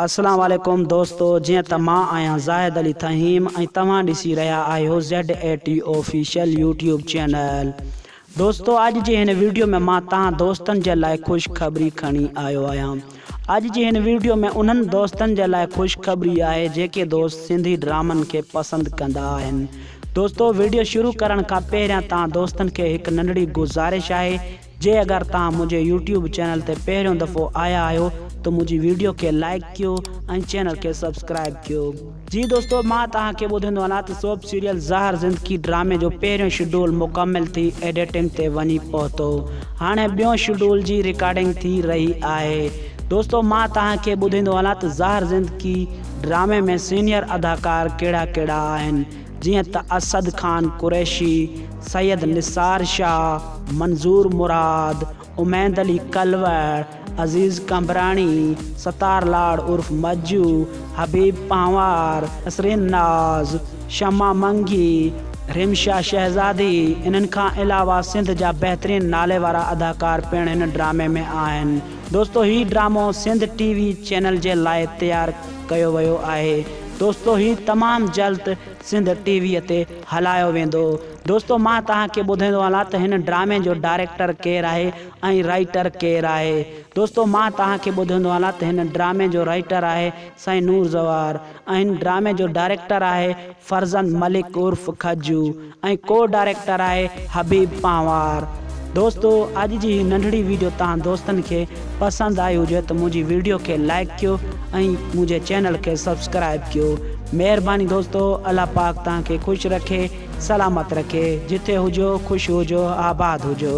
اسلام عليڪم دوستو جيئن ته مان آهيان زاهد علي ٿهيم ۽ توهان ڏسي رهيا آهيو ZAT Official يوٽيوب چينل دوستو اڄ جي هن ويڊيو ۾ مان تهان دوستن جي لاء خوش خبري کڻي آيو آهيان اڄ جي هن ويڊيو ۾ انهن دوستن جي لاء خوش خبري آهي جيڪي دوست سنڌي ڊرامن کي پسند ڪندا آهن دوستو ويڊيو شروع ڪرڻ کان پهريان تهان دوستن کي هڪ ننڍڙي گذارش آهي جي اگر توهان منهنجي يوٽيوب چينل تي پهريون دفعو آيا آهيو ته منهنجي ويڊيو کي لائيڪ ڪيو ۽ چينل کي سبسڪرائيب ڪيو. جي دوستو مان توهان کي ٻڌندو هلاان ته سوپ سيريل زهر زندگي ڊرامي جو پهريون شيڊول مڪمل ٿي ايڊيٽنگ تي وڃي پهتو هاڻي ٻيون شيڊول جي ريڪارڊنگ ٿي رهي آهي دوستو مان توهان کي ٻڌندو هلان ته زهر زندگي ڊرامي ۾ سينيئر اداڪار ڪهڙا ڪهڙا آهن جيئن ته اسد خان قريشي، سيد نثار شاهه، منظور مراد، اميد علي ڪلوڙ، عزيز قمبراڻي، ستار لاڙ عرف مجو، حبيب پنهوار، نسرين ناز، شمع منگي، رحيم شاهه شهزادي، انهن کان علاوه سنڌ جا بهترين نالي وارا اداڪار پڻ هن ڊرامي ۾ آهن دوستو هي ڊرامو سنڌ ٽي وي چينل جي لاء تيار ڪيو ويو آهي دوستو هي تمام جلد سنڌ ٽي وي تي هلايو ويندو دوستو مان توهان کي ٻڌيندو هلان ته هن ڊرامي جو ڊائريڪٽر ڪير آهي ۽ رائيٽر ڪير آهي دوستو مان توهان کي ٻڌيندو هلان ته هن ڊرامي جو رائيٽر آهي سائين نور زوار ۽ هن ڊرامي جو ڊائريڪٽر آهي فرزند ملڪ عرف کجو ۽ ڪو ڊائريڪٽر آهي حبيب پنهوار. دوستو اڄ جي هي ننڍڙي ويڊيو تهان دوستن کي پسند آئي هجي ته منهنجي ويڊيو کي لائيڪ ڪيو ۽ منهنجي چينل کي سبسڪرائيب ڪيو مهرباني دوستو الله پاڪ تهان کي خوش رکي سلامت رکي جتي هجو خوش هجو آباد هجو.